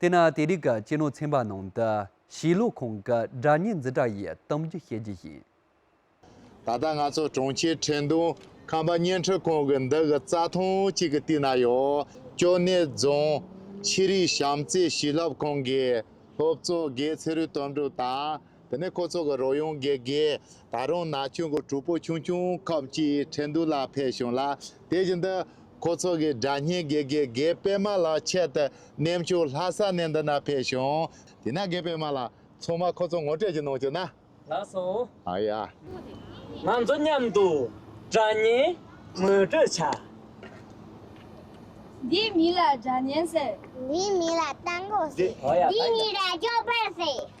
དེས་ན་དེ་རིགས་ཀྱི་སྤྱི་ནོར་ཚན་པ་ནང་དུ་བྱིས་བློ་ཁོང་གི་སྒྲ་སྙན་འཛིན་གྲྭ་ཡི་གཏམ་རྒྱུད་བཤད་རྒྱུ་ཡིན། ད་ལྟ་ང་ཚོ་གྲོང་ཁྱེར་ཁྲེང་ཏུང་ཁམས་པ་བརྙན་འཕྲིན་ཁང་གི་འདི་གི་རྩ་ཐང་གཅིག་གི་སྟེང་ན་ཡོད་ཅོ་ནེ་རྫོང་ཤེས་རིག་བྱམས་བརྩེ་བྱིས་བསླབ་ཁང་གི་སློབ་གཙོ་དགེ་ཚེ་རུས་དོན་གྲུབ་དང། དེ་ནས་ཁོ་ཚོ་གི་རོལ་དབྱངས་དགེ་དགེ། ད་རུང་ན་ཆུང་གི་གྲོགས་པོ་ཆུང་ཆུང་ཁག་ཅིག་ཁྲེན་ཏུའུ་ལ་ཕེབས་བྱུང་ལ་དེ་བཞིན་དུ། ཁོ་ཚོ་གི་དགྲ་གཉེན་དགེ་དགེ་དགེ་པད་མ་ལགས་ཆེད་དུ་གནས་མཆོག་ལྷ་ས་གནས་འདི་ན་ཕེབས་བྱུང། དེས་ན་དགེ་པད་མ་ལགས་ཚང་མ་ཁོ་ཚོ་ངོ་སྤྲད་ཀྱི་གནང་བྱུང་ན། ལགས་སོ། ང་ཚོ་མཉམ་དུ་དགྲ་གཉེན་ངོ་སྤྲོད་བྱ། འདི་མི་ལ་དགྲ་གཉེན་ཟེར། འདི་མི་ལ་དང་པོ་ཟེར། འདི་མི་ལ་སྐྱོབ་པ་ཟེར།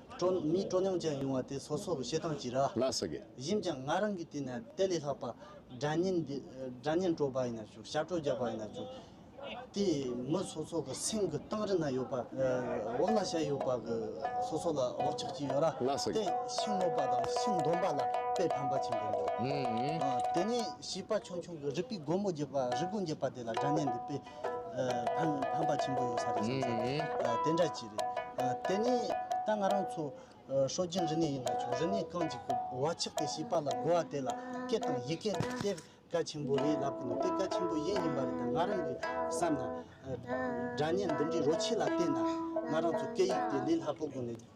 སྤྲོ། མིའི་སྤྲོ་ཉམས་ཅན་ཡོང་བ་དེ་སོ་སོ་གི་བྱེད་སྟངས་ཀྱིས་ར། ལགས་སོ། གཞན་ཀྱང་ང་རང་གི་དུས་ན་དེ་ལས་ལྷག་པ་དགྲ་གཉེན་འདི་དགྲ་གཉེན་སྤྲོ་བ་ཡིན་ན་ཅུང་ཞབས་བྲོ་རྒྱག་པ་ཡིན་ན་ཅུང། དེ་མི་སོ་སོ་གི་སེམས་ཀྱི་སྟེང་རི་ན་ཡོད་པ་འོག་ན་ཤ་ཡོད་པ་གི་སོ་སོ་ལ་འོག་ཆགས་ཀྱི་ཡོད་ར། ལགས་སོ། དེ་ཤིང་སྔོག་པ་དང་ཤིང་འདོན་པ་ལ་དཔེ་ཕམ་པ་ཆེན་པོ་འདུག། དེ་ནས་བྱིས་པ་ཆུང་ཆུང་གི་རིག་པའི་སྒོ་མོ་འབྱེད་པ་རི་སྒོ་འབྱེད་པ་དེ་ལ་དགྲ་གཉེན་འདི་དཔེ་ཕན་པ་ཆེན་པོ་ཡོད་ས་རེད་བསམ་ས་རེད་དེ་འདྲ་གྱི་རེད་དེ་ནས་ད་ང་རང་ཚོ་ཧྲོ་རྒྱན་རི་ནས་ཡིན་ལ་ཆུང་རི་ནས་རྐང་གཅིག་གི་བ་ཆགས་ཏེ་ཤི་པ་ལ་གོ་བ་དེ་ལ་སྐད་དང་ཡི་གེ་རེད་དེ་བཀའ་ཆེན་པོ་རེད་ལབ་གི་འདུག་དེ་བཀའ་ཆེན་པོ་གཞན་ཡིན་པ་རེད་ད་ང་རང་གི་བསམ་ན་སྒྲ་སྙན་འདི་འདྲའི་རོ་ཆེ་ལ་བལྟས་ན་ང་རང་ཚོ་སྐད་ཡིག་དེ་ལས་སླ་པོ་དགོས་ནས།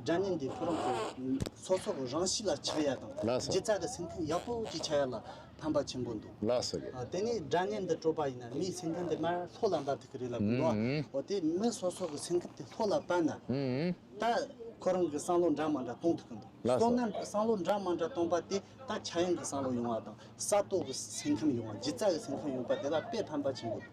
སྒྲ་ནི་འདི་ཕོ་རོག་གི་ཚོགས་ཚོགས་རང་ཞིག་ལ་ཆགས་ཡ་དང་སྦྱིན་བཙག་གི་སེམས་ཁམས་ཡག་པོ་ཅིག་ཆགས་ཡ་ལ་ཕན་པ་ཆེན་པོ་འདུག་དེ་ནས་སྒྲ་ནི་འདི་སྤྲོ་པ་ཡིན་ན་མིའི་སེམས་ཁམས་དེ་མར་ལྷོད་ལ་འབབ་ཐུབ་ཀྱི་རེད་ལབ་གི་འདུག་འོ་དེ་མི་སོ་སོ་གི་སེམས་ཁམས་དེ་ལྷོད་ལ་བབས་ན་ད་ཁོ་རང་གི་བསམ་བློ་འདྲ་མ་འདྲ་གཏོང་ཐུབ་ཀྱི་འདུག་སོ་ནམ་གྱི་བསམ་བློ་འདྲ་མ་འདྲ་གཏོང་པ་དེ་ད་ཕྱྭ་གཡང་གི་བསམ་བློ་ཡོང་བ་དང་ས་རྟོག་གི་སེམས་ཁམས་ཡོང་བ་སྦྱིན་བཙག་གི་སེམས་ཁམས་ཡོང་པ་དེ་ལ་དཔེ་ཕན་པ་ཆེན་པོ་འདུག་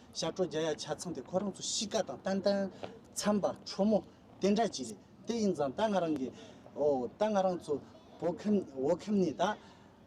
ཞབས་བྲོ་རྒྱ་ཡ་ཆ་ཚང་དེ་ཁོ་རང་ཚོ་གཤིས་ཀ་དང་ཏན་ཏན་འཚམས་པ་ཁྲོ་མོ་དེ་འདྲ་ཅིག་རེད་དེ་ཡིན་ཙང་ད་ང་རང་གི་ཨོ་ད་ང་རང་ཚོ་བོད་ཁམས་བོད་ཁམས་ནས་ད་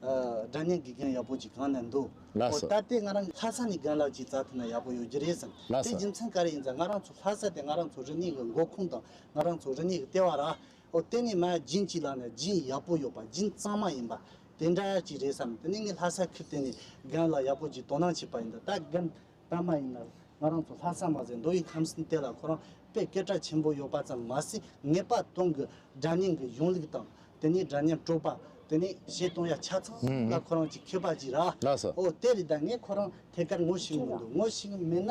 སྒྲ་སྙན་གི་སྒང་ཡག་པོ་ཅིག་གང་ན་འདུག་ཨོ་ད་དེ་ང་རང་ལྷ་ས་ནས་སྒང་ལགས་ཅིག་བཙལ་ཐུབ་ན་ཡག་པོ་ཡོད་རྒྱུ་རེད་བསམ་དེ་རྒྱུ་མཚན་ག་རེ་ཡིན་ཙང་ང་རང་ཚོ་ལྷ་ས་དེ་ང་རང་ཚོ་རི་ནས་གི་མགོ་ཁུངས་དང་ང་རང་ཚོ་རི་ནས་གི་ལྟེ་བ་ར་ཨོ་དེ་ནས་མ་བྱིན་ཅིག་ལགས་ན་བྱིན་ཡག་པོ་ཡོད་པ་བྱིན་གཙང་མ་ཡིན་པ་དེ་འདྲ་ཅིག་རེད་བསམ་དེ་ནས་ངས་ལྷ་སར་ཁུལ་བསྟན་ནས་རྒན་ལགས་ཡག་པོ་ཅིག་དོ་སྣང་བྱས་པ་ཡིན་ད་ད་རྒན་པདྨ་ཡིན་ན་ང་རང་ཚོ་ལྷ་ས་མ་ཟད་མདོ་ཡི་ཁམས་སེམས་གཏད་ལ་ཁོ་རང་དཔེ་སྐད་གྲགས་ཆེན་པོ་ཡོད་པ་ཙམ་མ་ཟད་ངེས་པ་སྟོང་གི་སྒྲ་སྙན་གྱི་གཞུང་ལུགས་དང་དེ་ནས་སྒྲ་སྙན་སྤྲོ་པ་དེ་ནས་བཤད་སྟོང་ཡ་ཆ་ཚང་ལ་ཁོ་རང་ཅིག་ཁྱོད་པ་ཅིག་ར་ཨོ་དེ་རེད་ད་ངས་ཁོ་རང་ཐད་ཀར་ངོ་ཤེས་ངེས་འདུག་ངོ་ཤེས་ངེས་མེད་ན་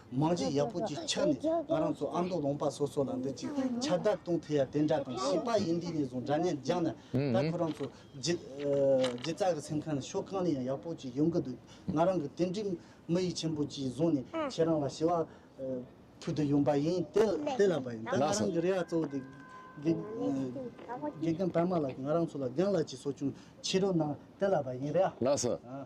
མང་གཅིག་ཡག་པོ་གཅིག་ཆགས་ནས་ང་རང་ཚོ་ཨ་མདོ་ལུང་པ་སོ་སོ་ལ་འདི་གཅིག་ཆ་བདག་གཏོང་ཐུབ་ཡ་དེ་འདྲ་དང་བྱིས་པ་ཡིན་དུས་ནས་བཟུང་འདྲ་བརྙན་སྦྱངས་ན་ད་ཁོ་རང་ཚོ་སྒྱིད་ཙག་གི་སེམས་ཁ་ནས་ཕྱོགས་གང་ནས་ཡང་ཡག་པོ་གཅིག་ཡོང་གི་འདུག་ང་རང་གི་དེ་འདྲའི་མི་ཡིད་ཆེན་པོ་གཅིག་བཟུང་ནས་ཁྱེད་རང་ལ་ཞི་བ་ཕུལ་དུ་ཡོང་པ་ཡིན་དེ་ལ་བ་ཡིན་ད་ང་རང་གི་རེ་བ་གཙོ་བོ་དེ་དགེ་རྒན་པདྨ་ལགས་ཀྱིས་ང་རང་ཚོ་ལ་རྒན་ལགས་ཀྱི་གསོ་སྐྱོང་ཕྱི་རོལ་གནང་དེ་ལ་བ་ཡིན་རེད་ཨ།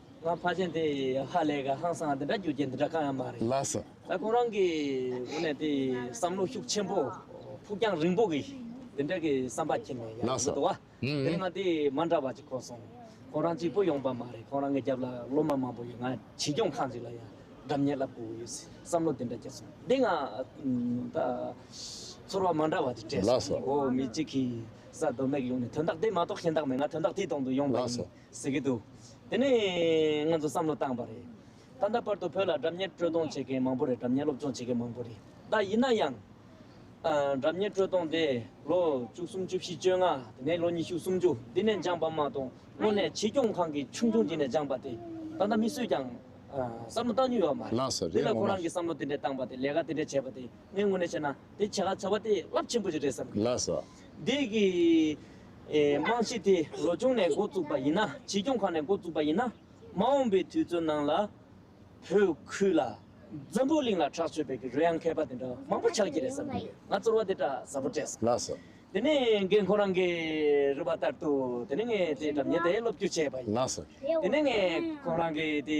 ང་ཕ་ཆེན་དེ་ཧ་ལས་ཀ་ཧང་སང་འདི་འདྲ་རྒྱུ་རྐྱེན་འདི་འདྲ་གང་ཡང་མ་རེད། ལགས་སོ། ད་ཁོང་རང་གི་དགོས་ནས་དེ་བསམ་བློ་ཤུགས་ཆེན་པོ་ཕུགས་རྒྱང་རིང་པོ་གི་དེ་འདྲ་གི་བསམ་པ་ཁྱེར་ནས་ཡར་ལགས་སོ། འགྲོ་བ། ཨང། དེ་སྔ་དེ་མ་འདྲ་བ་ཅིག་གོ་སོང། ཁོང་རང་གཅིག་པུ་ཡོང་པ་མ་རེད་ཁོང་རང་གི་རྒྱབ་ལ་སློབ་མ་མང་པོ་ཡོད་ང་བྱིས་སྐྱོང་ཁང་ཅིག་ལ་ཡང་སྒྲབ་གཉེར་ལབ་དགོས་ཡོད་སྲིད་བསམ་བློ་དེ་འདྲ་ཁྱེར་སོང་དེ་སྔ། ད། ཚོར་བ་མ་འདྲ་བ་ཅིག་སྤྲད་སོང། ལགས་སོ། འོ་མི་གཅིག་གིས་ས་རྡོ་སྨྲེག་ཡོང་ནས་དོན་དག་དེ་མ་གཏོགས་གཞན་དག་མེད་ང་དོན་དག་དེའི་དོང་དུ་ཡོང་པ་ཡིན། ལགས་སོ། ཟེར་གྱི་འདུག་དེ་ནི་ང་ཚོས་བསམ་བློ་བཏང་བ་རེད། ད་ལྟ་བར་དུ་བོད་ལ་སྒྲ་ཉན་དཀྲོལ་གཏོང་བྱེད་མཁན་མང་པོ་རེད་སྒྲ་ཉན་སློབ་སྦྱོང་བྱེད་མཁན་མང་པོ་རེད་ད་ཡིན་ན་ཡང། སྒྲ་ཉན་དཀྲོལ་གཏོང་དེ་ལོ་བཅུ་གསུམ་བཅུ་བཞི་བཅོ་ལྔ་དེ་ནས་ལོ་ཉི་ཤུ་སུམ་ཅུ་འདི་ནས་སྦྱངས་པ་མ་གཏོགས་དངོས་གནས་བྱིས་སྐྱོང་ཁང་གི་ཆུང་ཆུང་དེ་ནས་སྦྱངས་པ་དེ་ད་ལྟ་མི་སུས་ཀྱང་བསམ་བློ་བཏང་མྱོང་ཡོད་མ་རེད། འདི་ལ་ཁོ་རང་གིས་བསམ་བློ་དེ་འདྲས་བཏང་བ་དེ་ལས་ཀ་དེ་འདྲས་བྱས་པ་དེ་ངས་དངོས་གནས་བཤད་ན་དེ་བྱ་དགའ་བྱ་བ་དེ་རླབས་ཆེན་པོ་ཞིག་རེད་བསམ་གྱི་ཡོད། འདི་གི། རྨང་གཞི་དེ་ལོ་ཆུང་ནས་འགོ་བཙུགས་པ་ཡིན་ན་བྱིས་སྐྱོང་ཁང་ནས་འགོ་བཙུགས་པ་ཡིན་ན་མ་འོངས་པའི་དུས་ཚོད་ནང་ལ་བོད་ཁུལ་ལ་འཛམ་བུ་གླིང་ལ་གྲགས་ཆོད་པའི་གི་རོ་ཡང་མཁས་པ་དེ་འདྲ་མང་པོ་ཆགས་ཀྱི་རེད་བསམ་གྱི་ཡོད་ང་ཚོར་བ་དེ་འདྲ་ཟབ་པོ་སྤྲད་སོང། ལགས་སོ། དེ་ནས་རྒན་ཁོང་རང་གིས་རུ་བ་ལྟར་དུ་དེ་ནས་ངས་དེའི་གྲབས་ཉན་དེ་སློབ་བསྐྱུར་བྱས་པ་ཡིན། ལགས་སོ། དེ་ནས་ངས་ཁོང་རང་གི་དེ།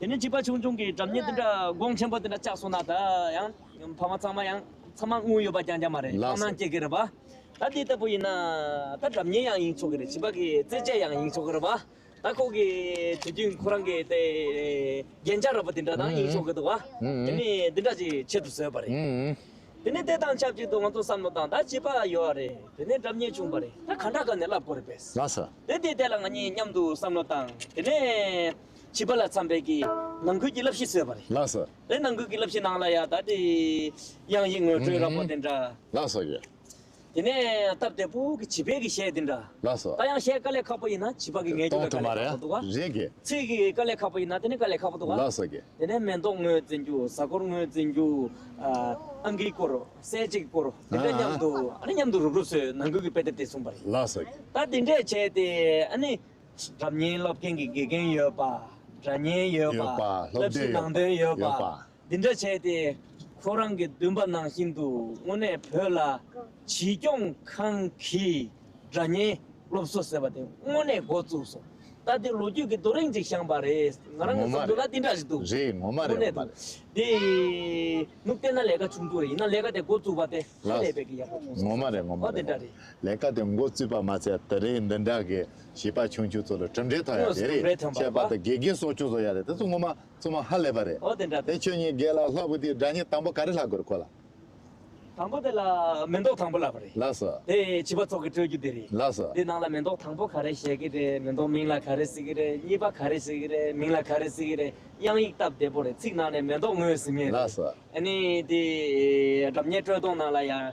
དེ་ནས་བྱིས་པ་ཆུང་ཆུང་གིས་འགྲམ་གཉེར་འདི་འདྲ་སྒོང་ཆེན་པོ་འདི་འདྲ་བཅག་སོང་ན་ད་ཡང་ཕ་མ་ཚང་མ་ཡང་ཚང་མ་དངུལ་ཡོད་པ་རྐྱང་རྐྱང་མ་རེད་སྐྲག་སྣང་སྐྱེ་གི་རེད་པཱ། ད་འདི་ལྟ་བུ་ཡིན་ན་ད་འགྲམ་གཉེར་ཡང་ཡིན་ཆོག་གི་རེད་བྱིས་པ་གི་རྩེད་སྤྱད་ཡང་ཡིན་ཆོག་གི་རེད་པཱ། ད་ཁོ་གི་དུས་དུས་ཁོ་རང་གི་དེ་རྒྱན་ཆ་ར་བ་དེ་འདྲ་དང་ཡིན་ཆོག་གི་འདུག་བ། དེ་ནི་འདི་འདྲ་ཅིག་བྱེད་དུ་བཟོས་པ་རེད། དེ་ནི་དེ་དང་ཆབས་ཅིག་ཏུ་ང་ཚོ་བསམ་བློ་དང་ད་བྱིས་པ་ཡོད་བ་རེད་དེ་ནས་འགྲམ་གཉེར་བྱུང་བ་རེད་ད་ག་འདྲ་ག་ནས་བསླབ་དགོས་རེད་པས། དེ་དེ་དེ་ལ་ང་གཉིས་མཉམ་དུ་བསམ་བློ་བཏང་དེ་ནས། བྱིས་པ་ལ་འཚམ་པའི་གི། ནང་ཁུལ་གྱི་བསླབ་གཞི་བཟོས་པ་རེད། ལགས་སོ། དེ་ནང་ཁུལ་གྱི་བསླབ་གཞི་ནང་ལ་ཡང་ད་དེའི། དབྱངས་ཡིག་ངོས་སྤྲོད་ར་བོ་དེ་འདྲ། ལགས་སོ་ཡ། དེ་ནས་སྟབས་བདེ་པོ་གི་བྱིས་པའི་གི་གཞས་དེ་འདྲ། ལགས་སོ། ད་ཡང་གཞས་དཀའ་ལས་ཁག་པོ་ཡིན་ན་བྱིས་པ་གི་ངལ་རྒྱུ་ལ་དཀའ་ལས་ཁག་པོ་འདུག་ག། རེད་གི། ཚིག་གི་དཀའ་ལས་ཁག་པོ་ཡིན་ན་དེ་ནི་དཀའ་ལས་ཁག་པོ་འདུག་ག། ལགས་སོ་གི། དེ་ནས་མེ་ཏོག་ངོས་འཛིན་རྒྱུ་གཟའ་འཁོར་ངོས་འཛིན་རྒྱུ། ཨ་འགིའི་སྐོར། གསལ་བྱེད་ཀྱི་སྐོར། དེ་འདྲ་མཉམ་དུ། ཨ་ནི་མཉམ་དུ་རུབ་རུབ་བཟོས་ནང་ཁུལ་གྱི་དཔེ་དེབ་དེ་གསུངས་པ་རེད། ལགས་སོ་གི། ད་དེ་འདྲས་བྱས་ཏེ་ཨ་ནི། སྒྲ་བརྙན་སློབ་མཁན་གྱི་དགེ་རྒན་ཡོད་པ། སྒྲ་བརྙན་ཡོད་པ། བསླབ་གཞི་ནང་དོན་ཡོད་པ། འདི་འདྲ་བྱས་ཏེ། ཁོ་རང་གི་འདུན་པ་ནང་བཞིན་དུ་དངོས་གནས་བོད་ལ་བྱིས་སྐྱོང་ཁང་གི་སྒྲ་བརྙན་སློབ་གསོ་ཟེར་བ་དེ་དངོས་གནས་འགོ་བཙུགས་སོང། ད་ལྟའི་ལོ་རྒྱུས་ཀྱི་རྡོ་རིང་ཅིག་བཤངས་པ་རེད། ང་རང་གི་བསམ་ཚུལ་ལ་འདི་འདྲ་ཞིག་འདུག། དངོས་གནས་འདུག། དེ། མུ་སྟེགས་ན་ལས་ཀ་ཆུང་ཆུང་རེ་ཡིན་ན་ལས་ཀ་དེ་འགོ་བཙུགས་པ་དེ་ཧ་ལས་པའི་གི་ཡག་པོ་བྱུང་སོང། ངོ་མ་རེད། ལས་ཀ་དེ་འགོ་བཙུགས་པ་མ་ཚད་ད་རེས་འདི་འདྲ་གི་བྱིས་པ་ཆུང་ཆུང་ཚོ་ལ་གྲུབ་འབྲས་ཐོན་ཡག་དེ་རེད་ཁྱད་པར་དུ་དགེ་རྒན་སོགས་ཅུང་བཟོ་ཡག་རེད་དེ་ཚོ་ངོ་མ་བཙུན་མ་ཧ་ལས་པ་རེད་དེ་ཁྱོད་གཉིས་དགེ་ལ་ལྷག་པོ་དེའི་སྒྲ་སྙན་དང་པོ་ག་རེ་ལྷག་དགོས་རེད་ཁོ་ལགས། དང་པོ་དེ་ལ་མེ་འདོགས་དང་པོ་ལབ་པ་རེད། ལགས་སོ། དེ་བྱིས་པ་ཚོགས་ཀྱི་སྤྲོད་རྒྱུ་དེ་རེད། ལགས་སོ། དེ་ནང་ལ་མེ་འདོགས་དང་པོ་ག་རེ་བཤད་ཀྱི་རེད་མེ་འདོགས་མིང་ལ་ག་རེ་ཟེར་གྱི་རེད་གཉིས་པ་ག་རེ་ཟེར་གྱི་རེད་མིང་ལ་ག་རེ་ཟེར་གྱི་རེད་དབྱངས་ཡིག་སྟབས་བདེ་པོ་རེད་ཚིག་ནང་ནས་མེ་འདོགས་ངོས་ཟིན་ངེས་རེད། ལགས་སོ། ཨ་ནི་དེ་སྒྲ་སྙན་སྤྲོད་སྟངས་ནང་ལ་ཡང་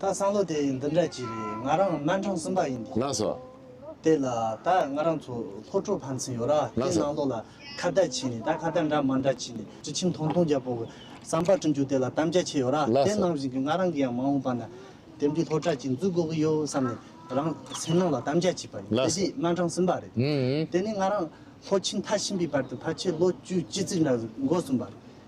ད་བསམ་བློ་དེ་འདི་འདྲ་ཅི་རེད་ང་རང་སྨན་ཁྲང་གསུམ་པ་ཡིན་ལགས་སོ། དེ་ལ་ད་ང་རང་ཚོ་ལྷོ་ཕྲོག་ཕན་ཚུན་ཡོད་ར་ལགས་དེ་སོ། ནང་ལོག་ལ་ཁ་བརྡ་བྱས་ནས་ད་ཁ་བརྡ་འདྲ་མ་འདྲ་བྱས་ནས་དྲི་ཆིམ་ཐོང་ཐོང་རྒྱབ་པོ་བསམ་པ་བསྐྲུན་རྒྱུ་དེ་ལ་གཏམ་རྒྱ་ཆེ་ཡོད་ར་ལགས་དེ་སོ། ནང་བཞིན་གྱི་ང་རང་གི་ཡང་མ་འོངས་པ་ན་དེབ་འདི་ལྷོ་བྲག་གིས་འཛུགས་དགོས་ཀྱི་ཡོད་བསམ་ནས་རང་སེམས་ནང་ལ་གཏམ་རྒྱ་བྱས་པ་ཡིན་ལགས་དེ་སོ། དུས་སྨན་ཁྲང་གསུམ་པ་རེད་དེ། དེ་ནས་ང་རང་ལྷོ་ཕྱིན་མཐར་ཕྱིན་པའི་བར་དུ་ཕར་ཆེར་ལོ་བཅུ་གཅིག་ཙིག་འདྲ་འགོར་སོང་བར་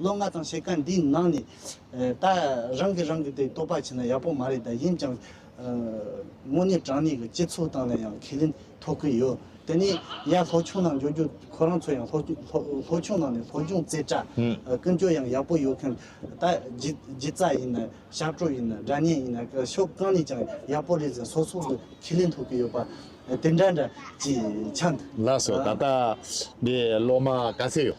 ལོ་ལྔ་ཙམ་བྱེད་ཀ་འདིའི་ནང་ནས་ད་རང་གིས་རང་གི་དེ་རྟོགས་པ་བྱས་ན་ཡག་པོ་མ་རེད་ད་ཡིན་ཀྱང། དངོས་གནས་དྲང་གནས་ཀྱི་སྤྱི་ཚོགས་སྟངས་ལ་ཡང་ཁས་ལེན་ཐོབ་ཀྱི་ཡོད་དེ་ནས་ཡང་ལྷོ་ཆུང་ནང་འབྱོར་རྒྱུ་ཁོ་རང་ཚོ་ཡང་ལྷོ་ཆུང་ནང་ནས་ལྷོ་སྦྱོང་རྩེ་གྲ་ཀུན་སྤྱོད་ཡང་ཡག་པོ་ཡོད་མཁན་ད་སྒྱིད་རྩ་ཡིན་ན་ཞག་བྲོ་ཡིན་ན་སྒྲ་སྙན་ཡིན་ན་ཕྱོགས་གང་ནས་ཀྱང་ཡག་པོ་རེད་ཟེར་སོགས་སོགས་ཀྱི་ཁས་ལེན་ཐོབ་ཀྱི་ཡོད་པ་དེ་འདྲ་འདྲ་ཅིག་ཆགས་འདུག། ལགས་སོ་ད་ལྟ་འདི་ལོ་མང་ག་ཚོད་ཡོད།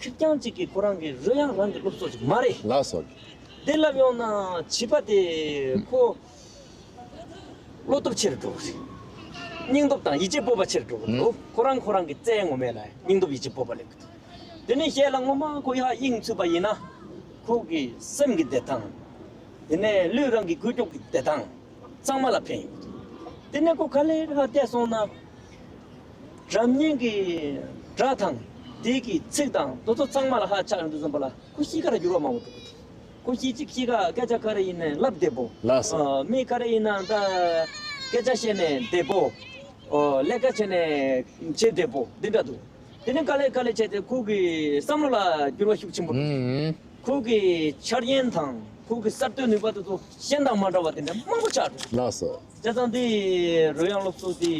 ཁྱོད་རྐྱང་གཅིག་གིས་ཁོ་རང་གི་བཟོད་ཡང་རང་གིས་སློབ་གསོ་ཞིག་མ་རེད། ལགས་སོ། དེ་ལབ་ཡོང་ན་བྱིས་པ་དེ་ཁོ། བློ་སྟོབས་ཆེ་རུ་འགྲོ་གི་རེད། སྙིང་སྟོབས་དང་ཡིད་ཆེས་སྤོབས་པ་ཆེ་རུ་འགྲོ་གི་འདུག་ཁོ་རང་ཁོ་རང་གི་རྩལ་ངོ་མས་ལ་སྙིང་སྟོབས་ཡིད་ཆེས་སྤོབས་པ་སླེབས་ཀྱི་འདུག་དེ་ནས་ཞལ་ལ་ངོ་མ་ཁོ་ཡག་དབྱིངས་ཚུད་པ་ཡིན་ན། ཁོ་གི་སེམས་ཀྱི་བདེ་ཐང། དེ་ནས་ལུས་རང་གི་གུས་སྐྱོབ་ཀྱི་བདེ་ཐང། གཙང་མ་ལ་འཕེན། དེ་ནས་ཀོ་གྷ་ལའི་ལྷ་བསྟད་སོང་ན། རབ་སྙན་གྱི་སྒྲ་དང་དེའི་གི་ཚིག་དང་དོ་ཚོ་གཙང་མ་ལ་ཧ་ཆག་འདུག་བསམ་པ་ལ་ཀོ་ཤི་ཀ་ར་འགྱུར་བ་མང་བོ་འདུག། ཀོ་ཤི་གཅིག་ཤི་ཀ་སྐད་ཆ་ཀ་རེ་ཡིན་ནས་ལབ་བསྡད་པོ། མི་ཀ་རེ་ཡིན་ན་ད་སྐད་ཆ་བཤད་ནས་བསྡད་པོ། ཀླད་ཀ་བྱས་ནས་བྱེད་བསྡད་པོ་འདི་འདྲ་འདུག། དེ་ནི་དཀའ་ལས་དཀའ་ལས་བྱས་ཏེ་ཁོང་གི་བསམ་བློ་ལ་འགྱུར་བ་ཤུགས་ཆེན་པོ་ཕྱིན། ཁོང་གི་འཆར་ཡན་དང་ཁོང་གི་གསར་གཏོད་ནུས་པ་དེ་ཚོ་གཞན་དང་མ་འདྲ་བ་དེ་འདྲ་མང་པོ་ཆགས་འདུག་ལགས་སོ། བྱས་ཙང་དེ་རོལ་དབྱངས་སློབ་གསོ་དེ་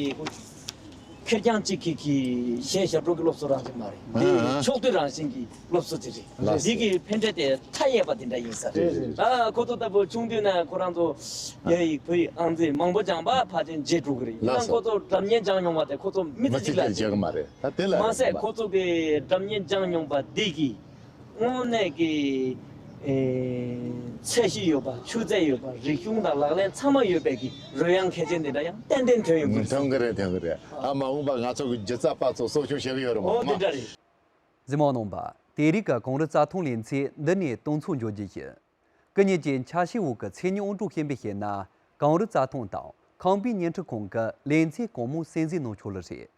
ཁེར་རྐྱང་གཅིག་གིས་གཞན་ཞབས་བྲོ་གི་སློབ་གསོ་རང་བཞིན་མ་རེད། དེ་ཕྱོགས་བསྡུས་རང་བཞིན་གྱི། སློབ་གསོ་དེ་རེད། ལ་ཟེར། འདི་གི་ཕན་འབྲས་དེ་མཐའ་ཡས་པ་དེ་འདྲ་ཡིན་ས་རེད། རེད་རེད། ཨ་ཁོ་ཚོ་ལྟ་བུ་ཆུང་དུས་ནས་ཁོ་རང་ཚོ་རྒྱ་ཡིག་བོད་ཡིག་ཨང་རྩིས་མང་པོ་སྦྱངས་པ་ཕ་དྲིན་རྗེས་དྲུག་གི་རེད། ཡིན་ལ་ནའང་ཁོ་ཚོ་དགྲ་བརྙན་སྦྱངས་མྱོང་བ་དེ་ཁོ་ཚོ་མི་མི་ཚེ་གཅིག་ལ་གཅིག་རྒྱག་གི་མ་རེད་ད་དེ་ལ་མ་རེད་ཟད་མ། ཁོ་ཚོ་གི་དགྲ་བརྙན་སྦྱངས་མྱོང་པ་འདི་གིས་དངོས་གནས་ཀྱི། ཚད་གཞི་ཡོད་པ་ཆུ་ཚད་ཡོད་པ་རིག་གཞུང་དང་ལག་ལེན་ཚང་མ་ཡོད་པའི་གི་རོལ་དབྱངས་གལ་ཆེན་དེ་འདྲ་ཡང་ཏན་ཏན་ཐོན་ཡོང་གི་རེད། ཐོན་གི་རེད་ཐོན་གི་རེད། ཨ་མ་འོངས་པ་ང་ཚོ་གི་རྒྱུ་རྩ་པ་ཚོ་གསོ་སྐྱོང་བྱེད་གི་ཡོད་རེད་མ། འོ་འདི་འདྲ་རེད། འཛིན་མ་གནང་བ། དེའི་རིགས་ཀ་གངས་རི་རྩ་ཐང་ལས་མཚེས་འདི་ནས་སྟོན་ཚུགས་འཇོག་རྒྱུ་ཡིན། སྐུ་ཉིད་ཀྱིས་འཆར་གཞིའི་འོག་གི་མཚན་ཉིད་དབང་གྲགས་ཤན་པས་བཤད་ན་གངས་རི་རྩ་ཐང་དང་ཁང་པའི་བརྙན་འཕྲིན་ཁང་གི་ལས་མཚེས་གང་མང་གསན་གཟིགས་གནང་ཆོག་ལེ་རེད།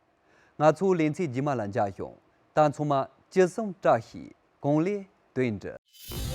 ང་ཚོ་ལས་མཚེས་རྗེས་མ་ལ་འཇགས་ཤིང་ད་ཚང་མ་ཅི་གསུང་བཀྲ་ཤིས་གང་ལེགས་དོན་འགྲུབ།